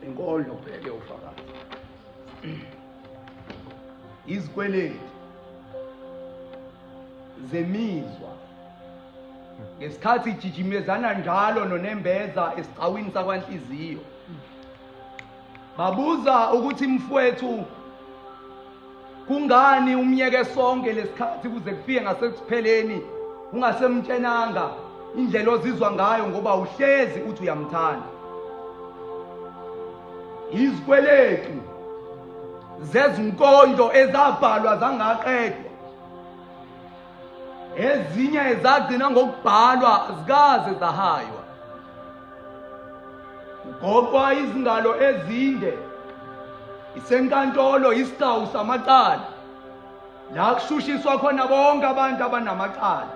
inkondlo ubheke ufakazi izikweleti zemizwa ngesikhathi ijijimezana njalo nonembeza esigcawini sakwanhliziyo Babuza ukuthi mfwethu kungani umyeke sonke lesikhathi kuze kufike ngasekupheleni ungasemtshenanga indlela ozizwa ngayo ngoba uhlezi uthi uyamthanda izikweletu zezinkonzo ezabhalwa zangaqedwa ezinye ezagcina ngokubhalwa azikaze zahaywa ugoqwa izingalo ezinde isenkantolo isiqawu samacala la kushushiswa khona bonke abantu abanamacala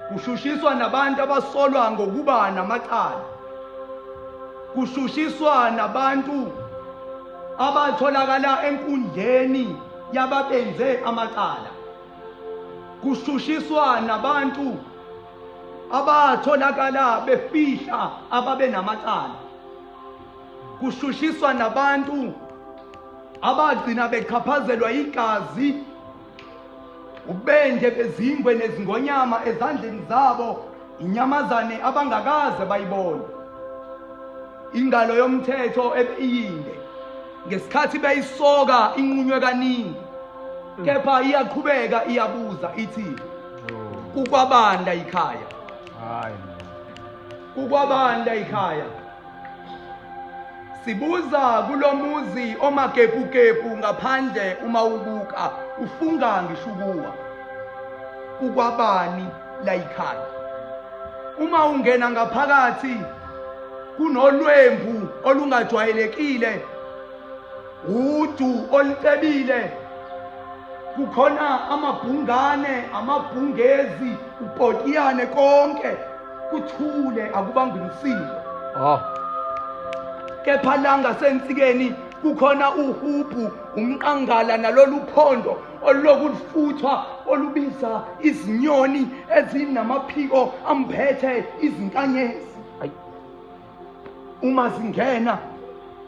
kushushiswa nabantu abasolwa ngokuba namacala kushushiswa nabantu abatholakala enkundleni yababenze amacala kushushiswa nabantu abatholakala befihla ababenamacala kushushiswa nabantu abagcina bechaphazelwa igazi ubende bezingwe nezingonyama ezandleni zabo inyamazane abangakaze bayibone ingalo yomthetho ebiyinde ngesikhathi beyisoka inqunywe kaningi kepha iyaqhubeka iyabuza ithi kukwabanda ikhaya kukwabanda ikhaya Sibuza kulomuzi omakepukepu ngaphandle uma ubuka ufunga ngisho ukuwa. Kukwabani la yikhaya? Uma ungena ngaphakathi kunolwembu olungajwayelekile udu olucebile kukhona amabhungane amabhungezi upotiyane konke kuthule akubangwe msindo oh kepha la ngasensikeni kukhona uhubhu umqangala nalolu phondo oluloku lufuthwa olubiza izinyoni ezinamaphiko amphethe izinkanyezi uma zingena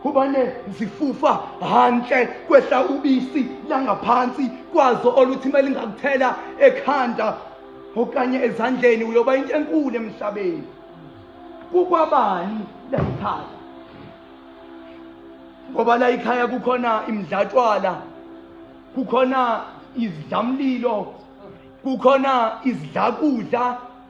kubane zifufa hantle kwehla ubisi langaphansi kwazo oluthi uma lingakuthela ekhanda okanye ezandleni uyoba into enkulu emhlabeni kukwabani layikhaya ngoba layikhaya kukhona imdlatshwala kukhona izidlamlilo kukhona izidlakudla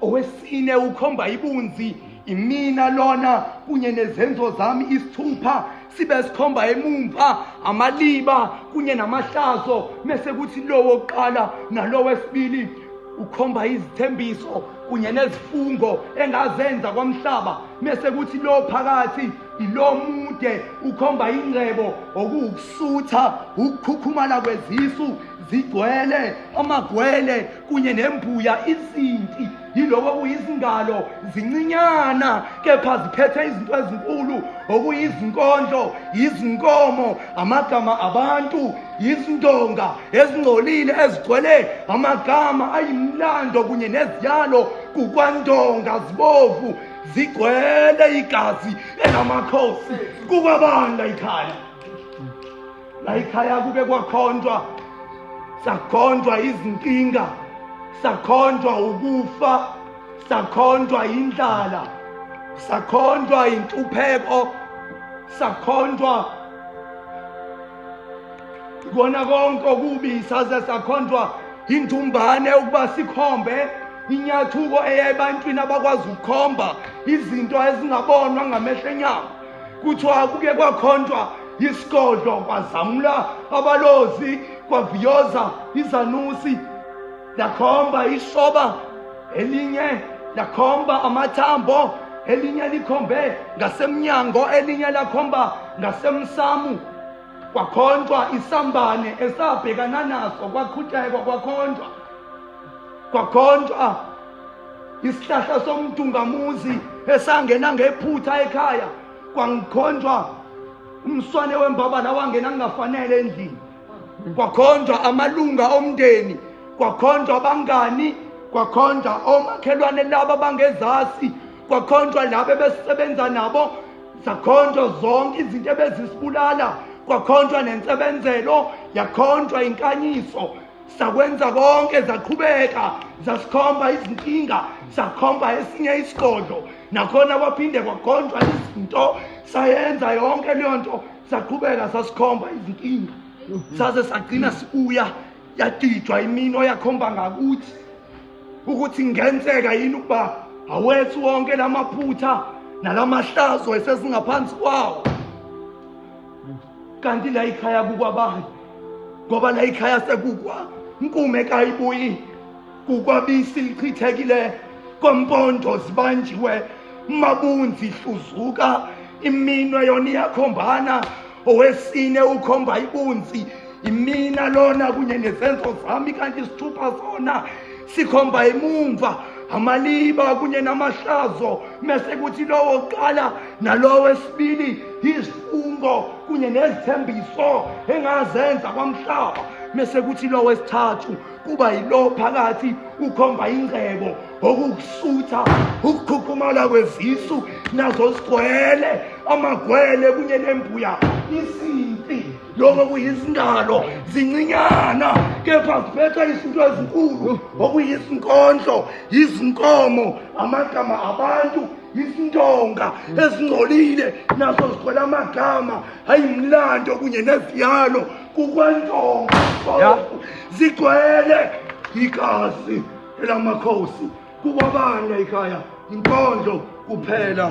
Owesine ukhomba ibunzi imina lona kunye nezenzo zami isithupha sibe sikhomba emumva amaliba kunye namahlazo mese kuthi lowo kuqala nalowo wesibili ukhomba izithembiso kunye nezifungo engazenza kwamhlaba mese kuthi lo phakathi ilo mude ukhomba ingcebo okuwukusutha ukukhukhumala kwezisu zigcwele amagwele kunye nembuya izinti yiloko okuyizingalo zincinyana kepha ziphethe izinto ezinkulu okuyizinkondlo yizinkomo amagama abantu yizindonga ezingcolile ezigcwele amagama ayimlando kunye neziyalo kukwandonga zibovu zigcwele igazi elamakhosi kukwabanda ikhaya la ikhaya kuke kwakhonjwa sakhonjwa izinkinga sakhonjwa ukufa sakhonjwa indlala sakhonjwa intupheko sakhonjwa kona konke okubi saze sakhonjwa intumbane ukuba sikhombe inyathuko eya ebantwini abakwazi ukukhomba izinto ezingabonwa ngamehlo enyama kuthiwa kuke kwakhontshwa isigodlo kwazamula abalozi kwaviyoza izanusi lakhomba isoba elinye lakhomba amathambo elinye likhombe ngasemnyango elinye lakhomba ngasemsamu kwakhonjwa isambane esabhekana naso kwaqhutyekwa kwakhonjwa kwakhonjwa isihlahla somdungamuzi esangena ngephutha ekhaya kwangikhonjwa umswane wembabala wangena kungafanele endlini kwakhonjwa amalunga omndeni kwakhonjwa abangani kwakhonjwa omakhelwane laba bangezasi kwakhonjwa laba ebesebenza nabo zakhonjwa zonke izinto ebezisibulala kwakhonjwa nensebenzelo yakhonjwa inkanyiso sakwenza konke zaqhubeka zasikhomba izinkinga sakhomba esinye isigodlo nakhona kwaphinde kwagonjwa izinto sayenza yonke leyo nto saqhubeka sasikhomba izinkinga mhm. saze sagcina sibuya yadidwa imino yakhomba ngakuthi ukuthi ngenzeka yini ukuba awethu wonke lamaphutha nalamahlazo esesingaphansi kwawo kanti la ikhaya kukwabani ngoba la ikhaya sekukwa nkume kayibuyi kukwabisi lichithekile kompondo zibanjiwe mabunzi hluzuka iminwe yona iyakhombana owesine ukhomba ibunzi imina lona kunye nezenzo zami kanti isithupha sona sikhomba imumva amaliba kunye namahlazo mese kuthi lowo kuqala nalowo wesibili izifungo kunye nezithembiso engazenza kwamhlaba mese kuthi lowo wesithathu kuba yilo phakathi ukhomba ingcebo okukusutha ukukhukhumala kwezisu nazo sigwele amagwele kunye nembuya isimpi lokho kuyizingalo zincinyana kepha ziphetha izinto ezinkulu okuyizinkondlo yizinkomo amagama abantu izintonga ezingcolile nazo zikhola amagama hayi mlando kunye neziyalo kukwantonga zigcwele igazi elamakhosi kukwabana ikhaya inkondlo kuphela